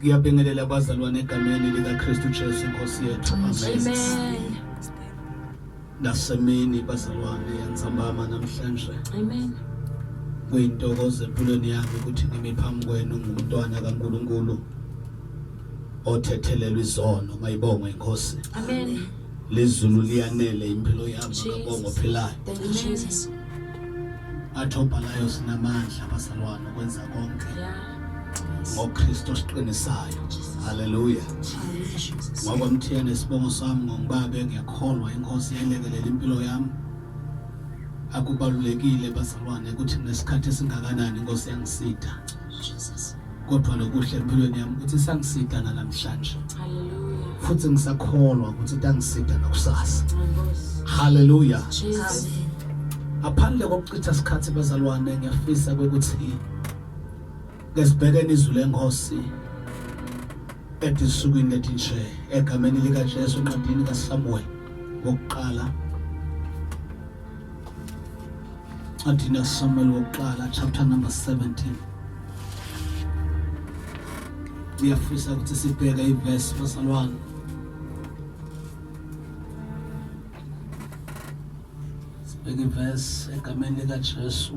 Ngiyabingelela abazalwane egameni likaKristu Jesu inkosi yethu. Amen. Nasemini bazalwane yantsambama namhlanje. Amen. Kuyintokozo empilweni yami ukuthi ngime phambi kwenu ngumntwana kaNkulunkulu othethelelwa izono mayibongwe inkosi. Amen. Lezulu liyanele impilo yami ngabonga ophilayo. Thank you Jesus. Athobhalayo sinamandla bazalwane ukwenza konke. Yeah. ngoKristu osiqinisayo haleluya ngoba mthiyane isibongo sami ngongibaba engiyakholwa inkosi yelekelela impilo yami akubalulekile bazalwane ukuthi nesikhathi esingakanani inkosi yangisida kodwa lokuhle empilweni yami ukuthi sangisida nalamhlanje futhi ngisakholwa ukuthi tangisida nakusasa haleluya ngaphandle kokuchitha isikhathi bazalwane ngiyafisa ukuthi Ngesibhekene izwi lenkosi ethi esukwini lethi nje egameni likaJesu encwadini kaSamuel wokuqala encwadini kaSamuel wokuqala chapter number 17 ngiyafisa ukuthi sibheke ivesi basalwane sibheke ivesi egameni likaJesu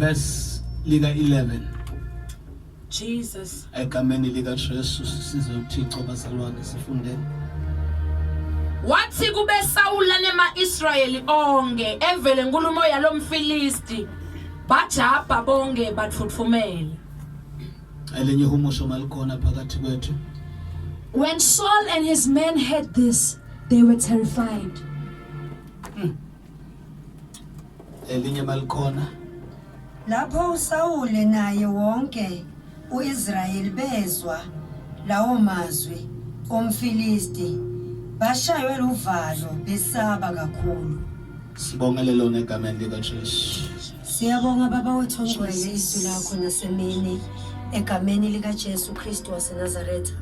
verse lika 11 Jesus egameni lika Jesu size uThixo bazalwane sifundeni wathi kube Sawula nemaIsrayeli onke evele inkulumo yalomfilisti bajabha bonke bathuthumela Elinye ihumusho malikhona phakathi kwethu. When Saul and his men heard this, they were terrified. Hmm. Elinye malikhona. Lapho uSawule naye wonke uIsrayeli bezwa lawo mazwi omfilisti bashaywe luvalo besaba kakhulu. Sibongelele lona egameni likaJesu. Siyabonga Baba wethu ongcwele izwi lakho nasemini egameni likaJesu Kristu waseNazaretha.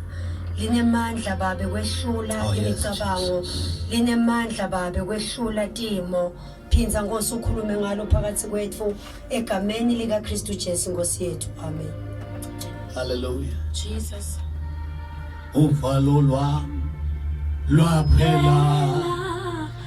Linemandla babe kwehlula Oh, yes, imicabango, linemandla babe kwehlula timo. Phinza Nkosi ukhulume ngalo phakathi kwethu egameni likaKristu Jesu Nkosi yethu. Amen. Hallelujah. Jesus. Uvalo lwami lwaphela.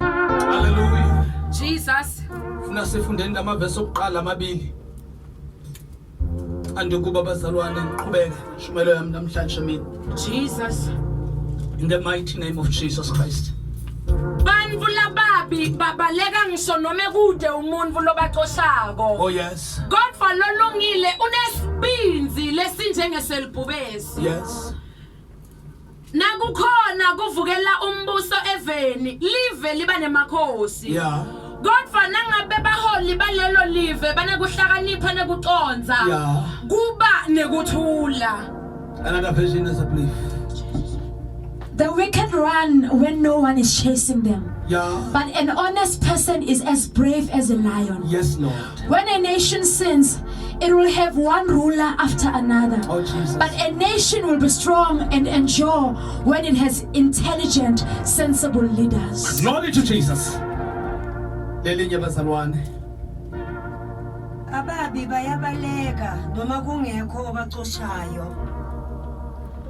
Hallelujah. Jesus. Funa sifundeni lamavesi okuqala amabili. Andikuba bazalwane ngiqhubeke shumelo yami namhlanje mina. Jesus. In the mighty name of Jesus Christ. Bantfu lababi babaleka ngisho noma kude umuntu lobacoshako. Oh yes. Kodwa lolungile unesibinzi lesinjengeselibhubesi. Yes. nakukhona kuvukela umbuso eveni live liba nemakhosi ya kodwa nangabe baholi balelo live banekuhlakanipha nekucondza ya kuba nekuthula another version is a belief The wicked run when no one is chasing them, ya but an honest person is as brave as a lion. yes lord When a nation sins, it will have one ruler after another. Oh, but a nation will be strong and endure when it has intelligent, sensible leaders. Glory to Jesus. Lelinye bazalwane. Ababi bayabaleka noma kungekho obacoshayo.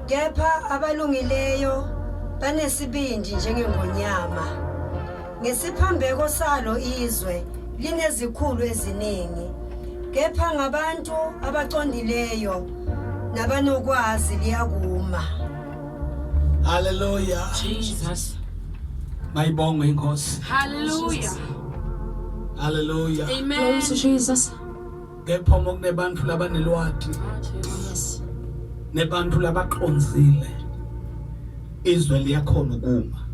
Kepha abalungileyo banesibindi njengengonyama. Ngesiphambeko salo izwe linezikhulu eziningi kepha ngabantu abacondileyo nabanokwazi liyakuma. Hallelujah. Jesus. Mayibongwe inkosi. Hallelujah. Hallelujah. Amen. Glory to Jesus. kepha uma kunebantfu labanelwati nebantfu labacondzile izwe liyakhona ukuma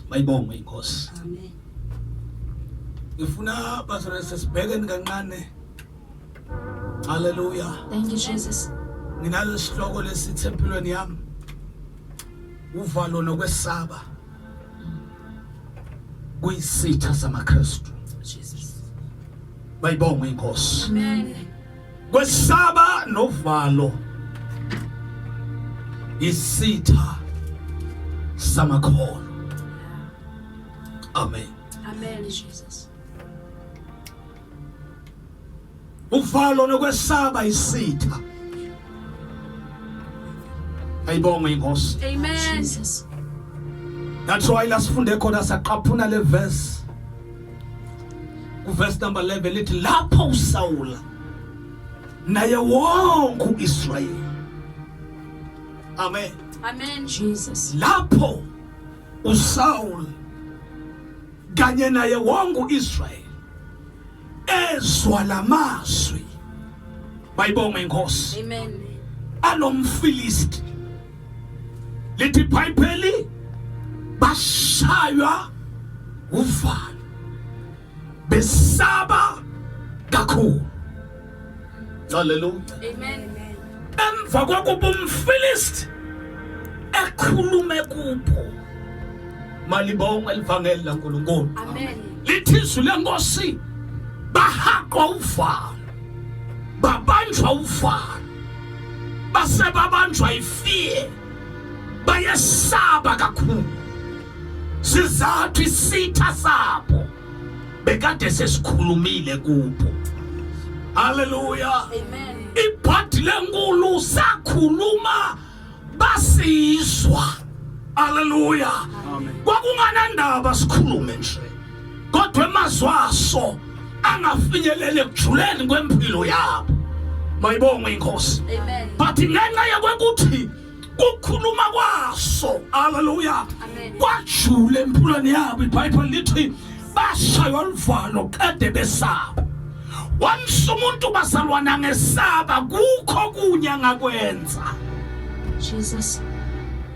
mayibongwe inkosi ngifuna bazalwane sibhekeni kancane haleluya thank you jesus nginalesihloko lesithi empilweni yami uvalo nokwesaba kuyisitha samaKristu bayibonga inkosi amen kwesaba novalo isitha samakholo amen amen jesus uvalo nokwesaba isitha ayibonge inkosi amen jesus that's why lasifunde khona saqaphuna le verse kuverse number 11 lithi lapho usawula naye wonke uIsrayeli amen amen jesus lapho usawula kanye naye wonke uIsrael ezwa lamazwi bayibonga inkosi amen alomfilisti lithi bhayibheli bashaywa uvalo besaba kakhulu Hallelujah. Amen. Emva kokuba umfilisti ekhulume kubo malibonga elivangeli laNkulunkulu. Amen. Lithi izwi lenkosi bahaqwa uvalo babanjwa uvalo base babanjwa ifie bayesaba kakhulu sizathu isitha sabo bekade sesikhulumile kupho haleluya ibhadi lenkulu sakhuluma basizwa haleluya kwakunganandaba sikhulume nje kodwa emazwi aso angafinyeleli ekujuleni kwempilo yabo mayibongwe inkosi but ngenxa yokwekuthi kukhuluma kwaso haleluya kwajule empulweni yabo ibhayibheli lithi bashaywa luvalo kade besaba wamsa umuntu bazalwana ngesaba kukho kunye angakwenza jesus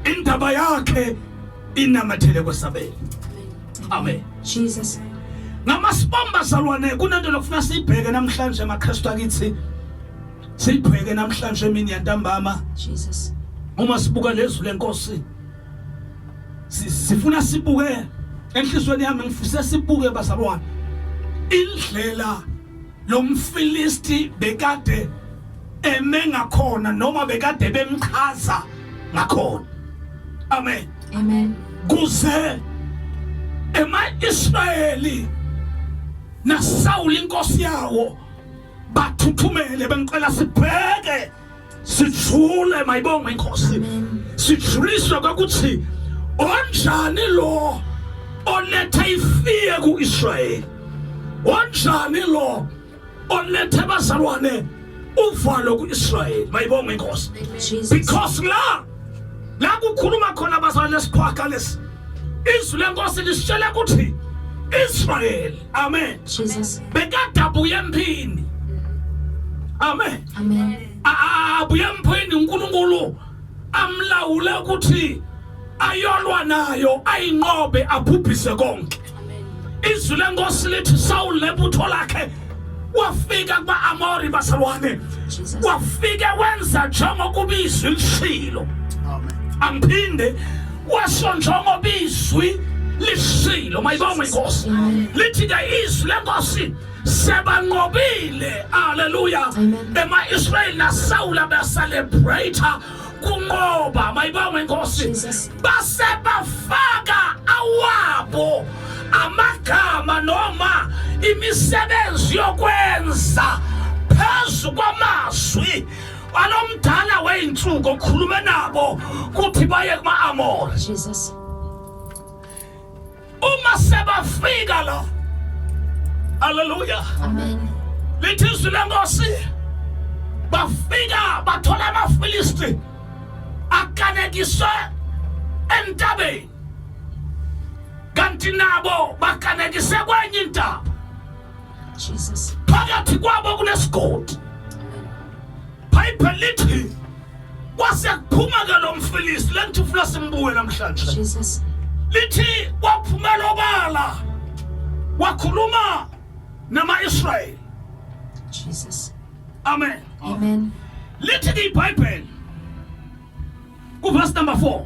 indaba yakhe inamathele kwesabela amen jesus ngamasibomba zalwane kunento lokufuna siyibheke namhlanje amakristu akithi Sibheke namhlanje emini yantambama. Jesus. Uma sibuka lezwi lenkosi sifuna sibuke enhlizweni yami ngifisa sibuke bazalwane indlela lomfilisti bekade eme ngakhona noma bekade bemchaza ngakhona amen amen kuze ema Israyeli naSawuli inkosi yawo bathuthumele bengicela sibheke sijule mayibonge inkosi sijuliswe kwakuthi onjani lo olethe ifiye ku-israyeli onjani lo olethe bazalwane uvalo ku-israyeli mayibonge inkosi because la la kukhuluma khona abazalwane lesiqhwaga lesi izwi lenkosi lisitshela ukuthi israyeli Amen. Jesus. Bekade abuye emphini. Amen. Amen. Abuye emphini uNkulunkulu amlawule ukuthi ayolwa nayo ayinqobe abhubhise konke. Izwi lenkosi lithi Saul lebutho lakhe wafika kuba Amori basalwane. Wafike wenza njengokuba izwi lishilo. Amen. Angiphinde kwasho njengoba izwi lisilo mayibongwe inkosi lithi ke izwi lenkosi sebanqobile haleluya ema-israyeli nasawula beselebrata kunqoba mayibongwe inkosi base bafaka awabo amagama noma imisebenzi yokwenza phezu kwamazwi Balomdala weyinsuku okhulume nabo kuthi baye kuma Amor. Jesus. Uma sebafika la. Hallelujah. Amen. Lithi izwi lenkosi bafika bathola amaFilisti akanekiswe entabeni kanti nabo bakanekise kwenye intaba Jesus. Phakathi kwabo kunesigodi. Bible lithi kwase kuphuma ke lo mfilisi lenthi ufuna simbuye namhlanje. Jesus. Lithi kwaphumela obala wakhuluma nama-Israyeli. Jesus. Amen. Amen. Lithi ke iBhayibheli kuverse number 4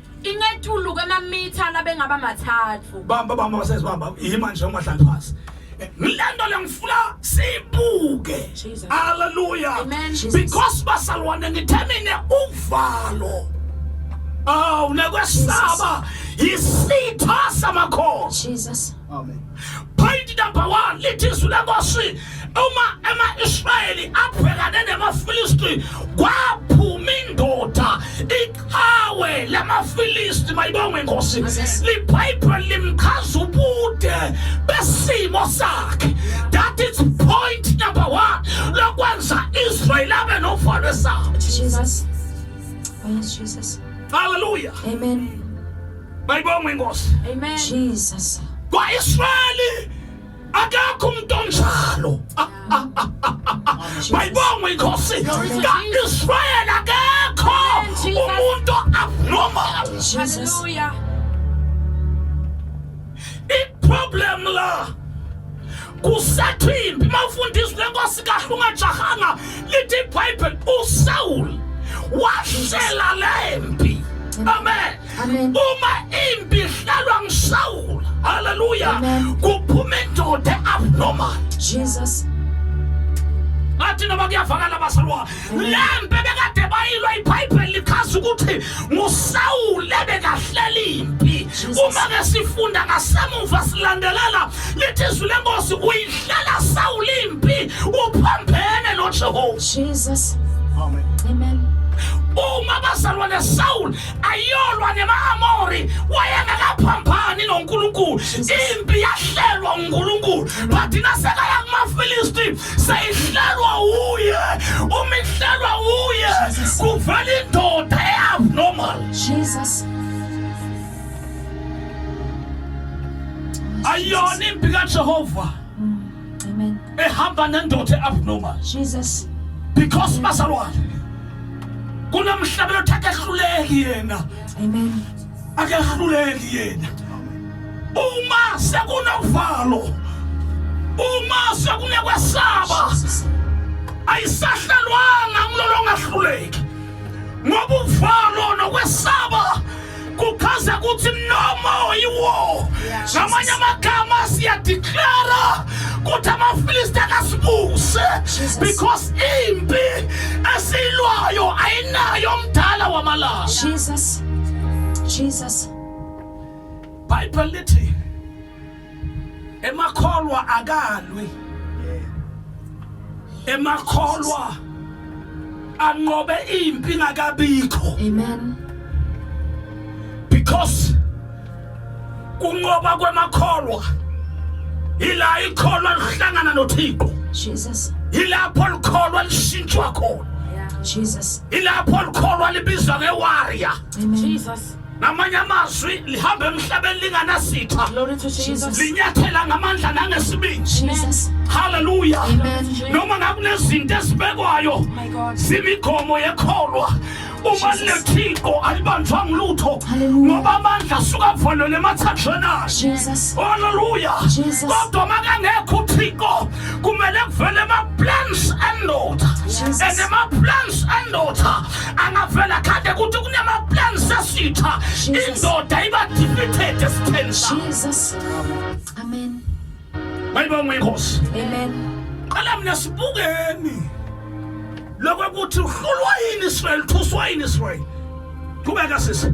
Ingetuluka amamitha labengaba mathathu. Bamba bamba basezi bamba yima nje umahlala phansi. Ngilento lengifuna sibuke. Jesus. Hallelujah. Amen, Jesus. Because basalwane ngithemine uvalo. Aw nekwesaba yisitha samakhosi. Jesus. Amen. Point number 1 lithi izwi lenkosi uma ema-Israyeli abhekane nemaFilisti kwaphuma indoda iqhawe lamaFilisti mayibongwe inkosi libhayibheli limchaza ubude besimo sakhe that is point number 1 lokwenza Israyeli abe novalo esabo Jesus. Oh, yes, Jesus. Hallelujah. Amen. Mayibongwe inkosi. Amen. Jesus. Kwa-Israyeli akakho umuntu onjalo. Mayibongwe inkosi. Ka-Israyeli akekho umuntu abnormal. Hallelujah. I-problem la kusathimbi mawufunda izwi lenkosi kahle ungajahanga lithi ibhayibheli usawuli wahlela le mpi amen Amen. uma impi ihlalwa ngisawula haleluya kuphuma indoda abnormal jesus ngathi noma kuyavakala basalwa lempe bekade bayilwa ibhayibheli lichaza ukuthi ngusawule bekahlela impi uma ke sifunda ngasemuva silandelela lithi izwi lenkosi uyihlela sawule impi uphambene nojehova jesus amen amen uma bazalwane sawule ayolwa nema-amori wayengakaphambani nonkulunkulu impi yahlelwa unkulunkulu but nasekaya kumafilisti seyihlelwa wuye uma ihlelwa wuye kuvela indoda e-abnormal jesus ayona impi kajehova Amen. ehamba nendoda e-abnormal Jesus. because bazalwane kunomhlabelo othi akehluleki yena Amen. akehluleki yena uma sekunovalo uma sekunekwesaba Jesus. ayisahlalwanga ngilolongahluleki ngoba uvalo nokwesaba kuchaza ukuthi noma yiwo ngamanye amagama siyadeclara ukuthi amafilisti akasibuse because impi esiyilwayo ayinayo omdala wamalanga Jesus Jesus Bible lithi emakholwa akalwi emakholwa anqobe impi ngakabikho amen because kunqoba kwemakholwa ila ikholwa lihlangana noThixo Jesus ilapho likholwa lishintshwa khona Jesus ilapho likholwa libizwa ngewarrior Jesus ngamanye amazwi lihamba emhlabeni linganasitha linyathela ngamandla nangesibindi haleluya noma ngakunezinto ezibekwayo oh zimigomo yekholwa uma lethixo alibanjwa ngilutho ngoba amandla asuka avalele emathanjeni ayo haleluya kodwa makangekho uthixo kumele kuvele ama-plans andoda and ama-plans andoda angavela khande ukuthi kunama-plans esitha indoda iba-defeated esitheni bayibonga inkosi qala mina sibukeni lokokuthi uhlulwa yini israyeli thuswa yini israyeli qhubeka sisi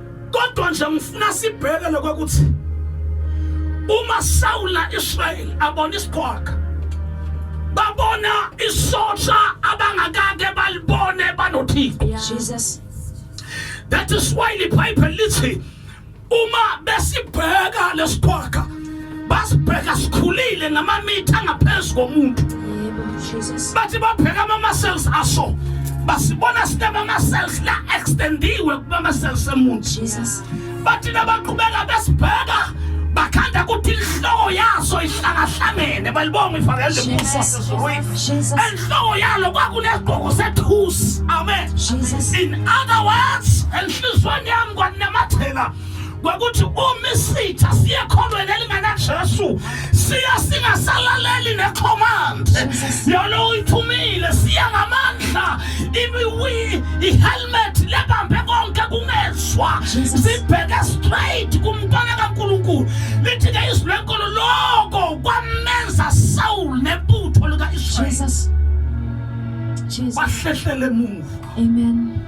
kodwa nje ngifuna sibheke lokwakuthi uma sawula Israel abona isiqhwaga babona isosha abangakake balibone banothixo Jesus that is why the bible lithi uma besibheka lesiqhwaga basibheka sikhulile ngamamitha angaphezu komuntu bathi babheka ama-muscles aso basibona sinama-muscles la extendiwe kuma-muscles emuntu bathi nabaqhubeka besibheka bakhanda kuthi inhloko yaso ihlangahlangene balibonga ivangeli lemfusosezuruyi enhloko yalo kwakunesigqoko sethusi amen in other words enhliziyweni yami kwanamathela kwakuthi uma isitha siye kholweni elinganajesu siya singasalaleli necommand yona uyithumile siya ngamandla i-helmet lebambe konke kungezwa sibheke straight kumntwana kankulunkulu lithi-ke izwi lenkolo loko kwamenza sawul nebutho lika-israyeli wahlehlele emuva amen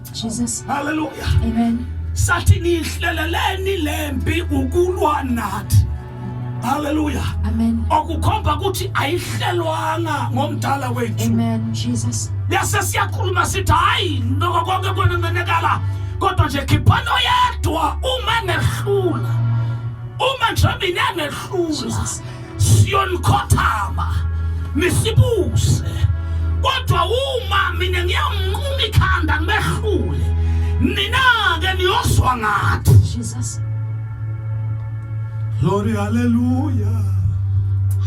Jesus. Hallelujah. Amen. Sathi nihleleleni lempi ukulwa nathi. Hallelujah. Amen. Okukhomba ukuthi ayihlelwanga ngomdala wethu. Amen. Jesus. Yase siyakhuluma sithi hayi noko konke kunenekala kodwa nje khiphani oyedwa uma nehlula. Uma nje mina nehlula. siyonikhothama nisibuse kodwa uma mina ngiyamnquma ikhanda ngibehlule nina-ke niyozwa ngathi jesus glory haleluya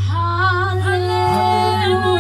haleluya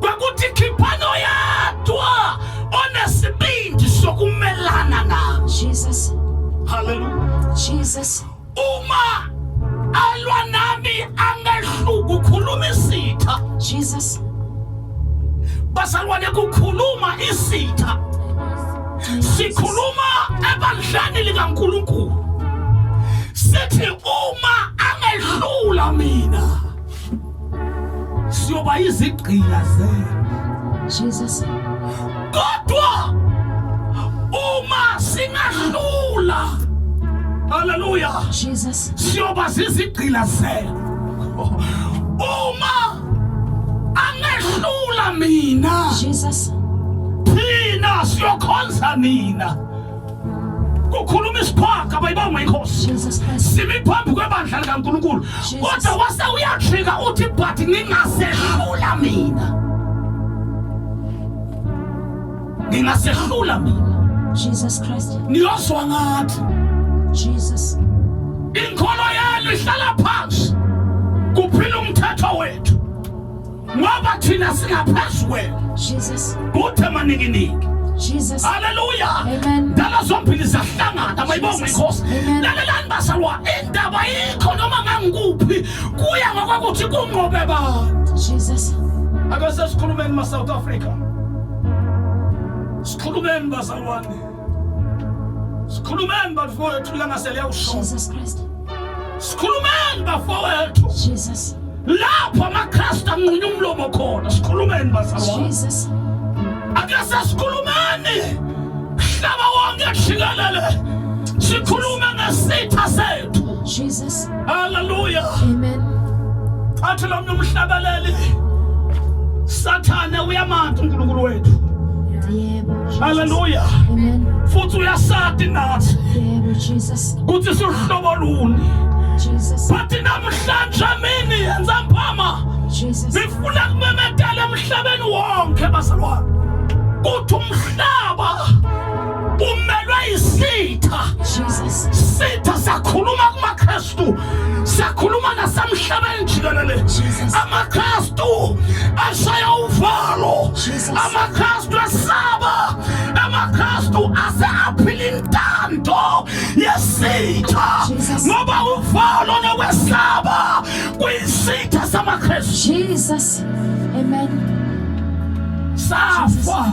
kwakuthi khiphano yadwa onesibindi sokumelana na Jesus hallelujah Jesus uma alwa nami angehluku khuluma isitha Jesus bazalwane kukhuluma isitha sikhuluma ebandleni likaNkuluNkulu sithi uma angehlula mina siyoba izigqila zenu Jesus kodwa uma singahlula haleluya Jesus siyoba zizigqila zenu uma angehlula mina Jesus thina siyokhonza nina kukhuluma isiphaka bayibongwa inkosi simi phambi kwebandla likaNkulunkulu kodwa wase uyajika uthi but ngingasehlula mina ngingasehlula mina Jesus Christ niyozwa ngathi Jesus inkolo yenu ihlala phansi kuphila umthetho wethu ngoba thina singaphezu kwenu Jesus kuthe manikiningi Jesus. Hallelujah. Amen. Dala zombili zahlangana abayibonga inkosi. Lalelani basalwa indaba yikho noma ngangikuphi kuya ngokwakuthi kunqobe ba. Jesus. Akase sikhulumeni ma South Africa. Sikhulumeni bazalwane. Sikhulumeni bafowethu ilanga seliyawushona. Jesus Christ. Sikhulumeni bafowethu. Jesus. Lapho amaKristu anqunya umlomo khona. Sikhulumeni bazalwane. Jesus. Ake sesikhulumeni. Mhlaba wonke jikelele. Sikhulume ngesitha sethu. Jesus. Hallelujah. Amen. Athi lo mntu umhlabeleli. Sathane uyamantu uNkulunkulu wethu. Yebo. Hallelujah. Amen. Futhi uyasati nathi. Yebo Jesus. Kuthi sihlobo luni. Jesus. Bathi namhlanje mini yenza mphama. Jesus. Ngifuna kumemedela emhlabeni wonke bazalwane. Kuthi umhlaba umelwe isitha sitha sakhuluma kumakristu sakhuluma nasemhlabeni jikelele amakristu ashaya uvalo amakristu esaba amakristu ase aphila intando yesitha ngoba uvalo nokwesaba kuyisitha samakristu jesus amen safa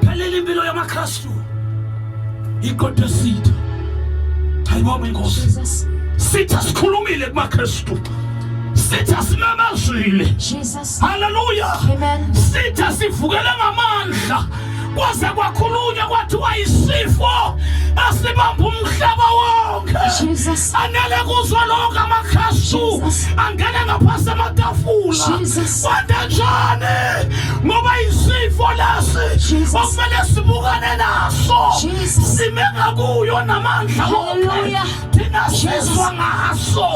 phelele impilo yamakristu iqodo esitha ayibonga inkosi sitha sikhulumile kumakristu sitha simemezile haleluya sitha sivukele ngamandla kwaze kwakhulunywa kwathiwa isifo asibamba umhlaba wonke Sanele kuzwa lokho amakhasu angena ngaphansi amatafula kwanda njani ngoba isifo lesi okumele sibukane naso sime ngakuyo namandla wonke thina sizwa ngaso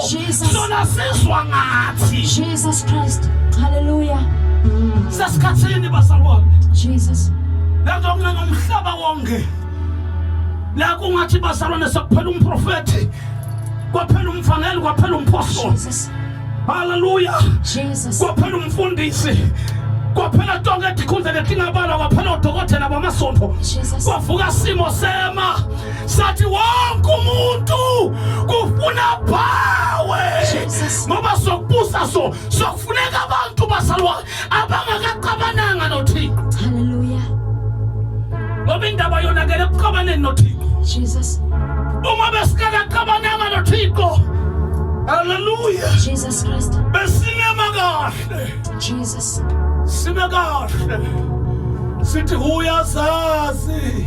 sona sizwa ngathi Jesus Christ haleluya sesikhathini bazalwane Jesus lento kunengomhlaba wonke la kungathi bazalwane sekuphela umprofethi kwaphela umvangeli kwaphela umphostoli haleluya kwaphela umfundisi kwaphela tonke etikhundla letingabala kwaphela odokotela bamasonto kwavuka simo sema sathi wonke umuntu kufuna bawe ngoba sokubusa so sokufuneka abantu basalwane abangakaxabananga noThixo. Hallelujah. Ngoba indaba yonakele ekuxabaneni noThixo. Jesus. Uma besikakaxabananga noThixo. Hallelujah. Jesus Christ. Besinema kahle. Jesus. Sime kahle. Sithi uyazazi.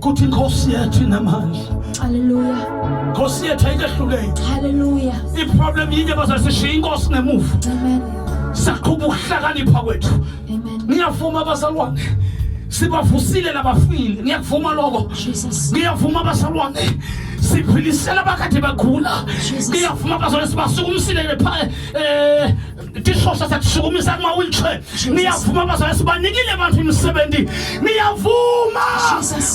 kuthi inkosi yethu inamandla haleluya inkosi yethu ayikehluleki haleluya iproblem yinye bazasishiya inkosi ngemuva amen saqhuba ukuhlakanipha kwethu amen ngiyavuma abazalwane sibavusile labafile ngiyakuvuma lokho ngiyavuma abazalwane siphilisela abakade bagula ngiyavuma abazalwane sibasukumisile pha um eh, Tishosha satisukumisa kuma wheelchair. Niyavuma bazalwane sibanikile abantu imisebenzi. Niyavuma.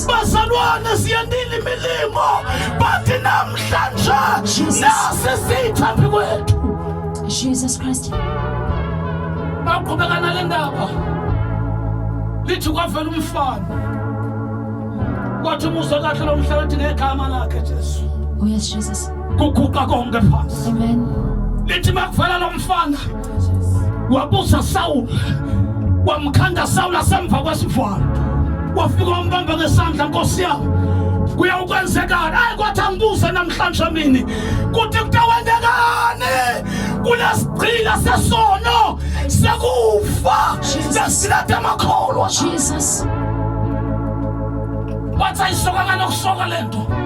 Bazalwane siyandile imilimo. Bathi namhlanje nasi sitha phi kwethu. Jesus Christ. Baqhubeka nale ndaba. Lithi kwavela umfana. Wathi umuzwa kahle lo mhlabathi ngegama lakhe Jesu. Oh yes Jesus. kuguqa konke phansi lithi makuvela lo mfana wabusa sawula wamkhanda sawula semva kwesivalo wafika wambamba ngesandla nkosi yami kuyawukwenzekani ayi kwathi angibuze namhlanje mini kuthi kutawenzekani kulesigcila sesono sekufa sesilade amakholwa jesus wathi ayisoka nganokusoka le nto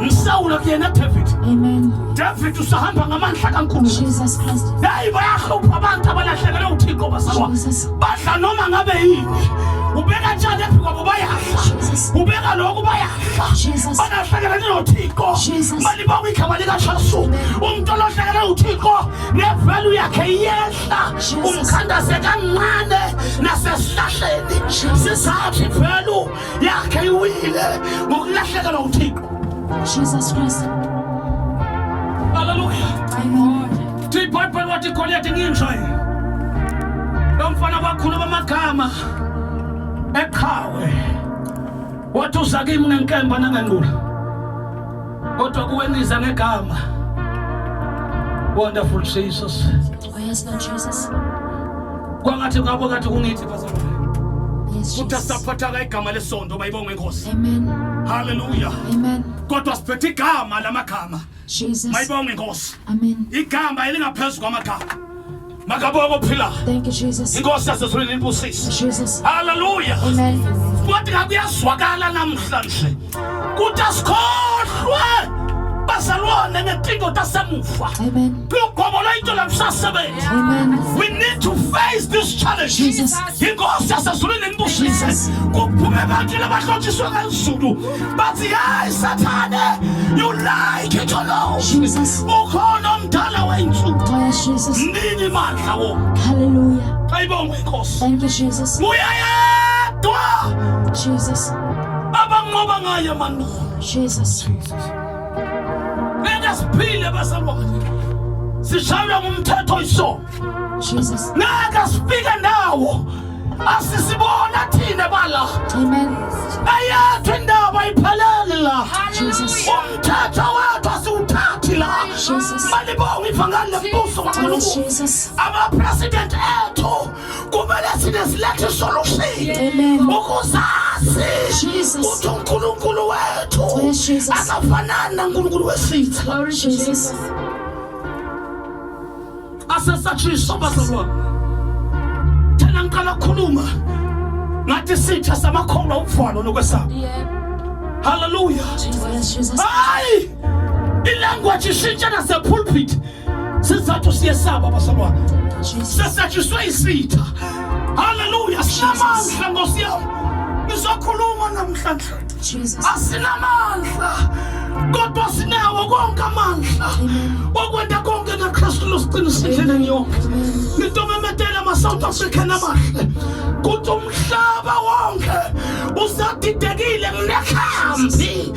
Msawulo kuyena David. Amen. David usahamba ngamandla kaNkulunkulu. Jesus Christ. Hayi bayahlupha abantu abalahlekelwe uThixo basalwa. Badla noma ngabe yini. Ubeka njani phi kwabo bayadla. Ubeka lokho bayadla. Balahlekelwe noThixo. Mali bawu igama lika Jesu. Umuntu olahlekelwe uThixo nevalue yakhe iyehla. Umkhandase kancane nasesihlahleni. Sisathi value yakhe iwile ngokulahlekelwa uthixo jesus christ haleluya thi ibhayibheli wathi igoliyati nginjwa lo mfana kwakhuluma amagama eqhawe wathi uza kimi ngenkemba nangenqula kodwa kuwe ngiza ngegama wonderful jesus Oh yes, Lord Jesus. Kwangathi ngabo kathi kungithi bazalwane. Kutha saphathaka igama lesonto bayibonga inkosi. Amen. Hallelujah. Amen. Kodwa siphethe igama lamagama. Jesus. Mayibonga inkosi. Amen. Igama elingaphezulu kwamagama. makabonga ophila inkosi yasezulwini libusise haleluya wathi kakuyazwakala namhlanje ukuthi asikhohlwe bazalwane ngetinto tasemuva lugobo lwento lalusasebenzi we need to face this challenge inkosi yasezulwini nibusise kuphume abantu labahlotshiswe ngezulu bathi hayi sathane you like it or no ukhona omdala wensuku oh, nini mandla wo haleluya ayibongwe inkosi uyayedwa jesus abanqoba ngayo amanqoba Jesus Jesus ngeke siphile bazalwane sishaywa ngumthetho isono Jesus ngeke sifike ndawo asisibona thina bala amen ayethu indaba iphelele la Jesus umthetho wethu asiwuthathi la Jesus malibonga ivangeli lembuso kaNkulunkulu ama president ethu kumele sine silethe isolution ukuzazi ukuthi unkulunkulu wethu akafanani nankulunkulu wesitha asesatshisa bazalwane thena ngiqala kukhuluma ngathi sitha samakholwa ukuvalo nokwesaba haleluya hayi ilanguage ishintsha nasepulpit sizathu siyesaba basalwane sesatshiswe isitha haleluya sinamandla nkosi yam ngizokhuluma namhlanje asinamandla kodwa sinawo konke amandla okwenta konke ngakristu losiqinisendleleni yonke into memetela ama-south african amahle kuthi umhlaba wonke usadidekile nginekhambi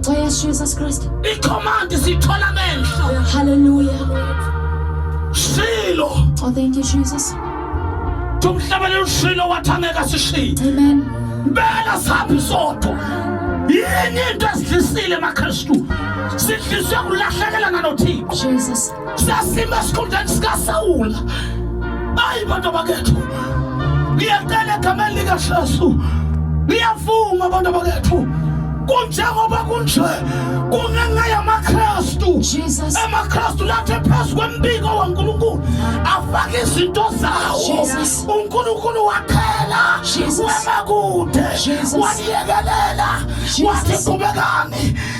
Xesha Jesus Christ. Icommand sithola amehlo. Hallelujah. Shilo. Oh thank you Jesus. Tumhlabele ushilo wathangeka sishilo. Amen. Bela saphi sodwa. Yini into esidlisile maKristu? Sidliswe kulahlekelana noThixo. Jesus. sasima esikhundleni sikasawula ayi bantu abakethu ngiyacela egameni likajesu ngiyavuma bantu abakethu kunjengoba kunje kungenxa yamakristu amakristu lathi phezu kwembiko wankulunkulu afake izinto zawo unkulunkulu wakhela wema kude waniyekelela wathi qhubekani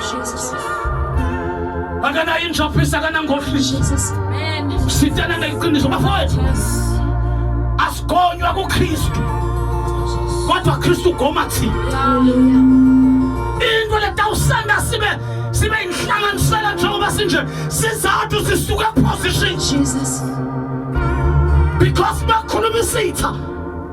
Jesus. Akana injopisa kana ngohlisi. Jesus. Amen. Sitana ngeqiniso bafowethu. Asigonywa kuKristu. Kodwa Kristu goma thina. Hallelujah. Into letawusanda sibe sibe inhlanganisela njengoba sinje sizathu sisuke position. Jesus. Because bakhuluma isitha.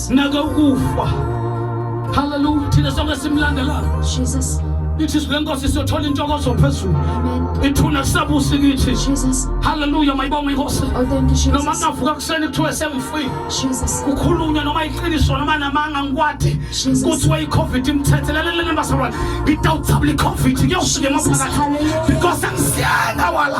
sinake ukufa haleluya thina sonke simlandelayo jesus ithi izwi lenkosi siyothola intokozo phezulu ithuna sabusi kithi haleluya mayibonga inkosi oh, noma ngavuka kuseni kuthiwe sengifile kukhulunywa noma iqiniso noma namanga ngikwade kuthiwe i-covid imthethelelelele bazalwane ngidawuthabula i-covid kuyofika emaphakathi because angisiyena wala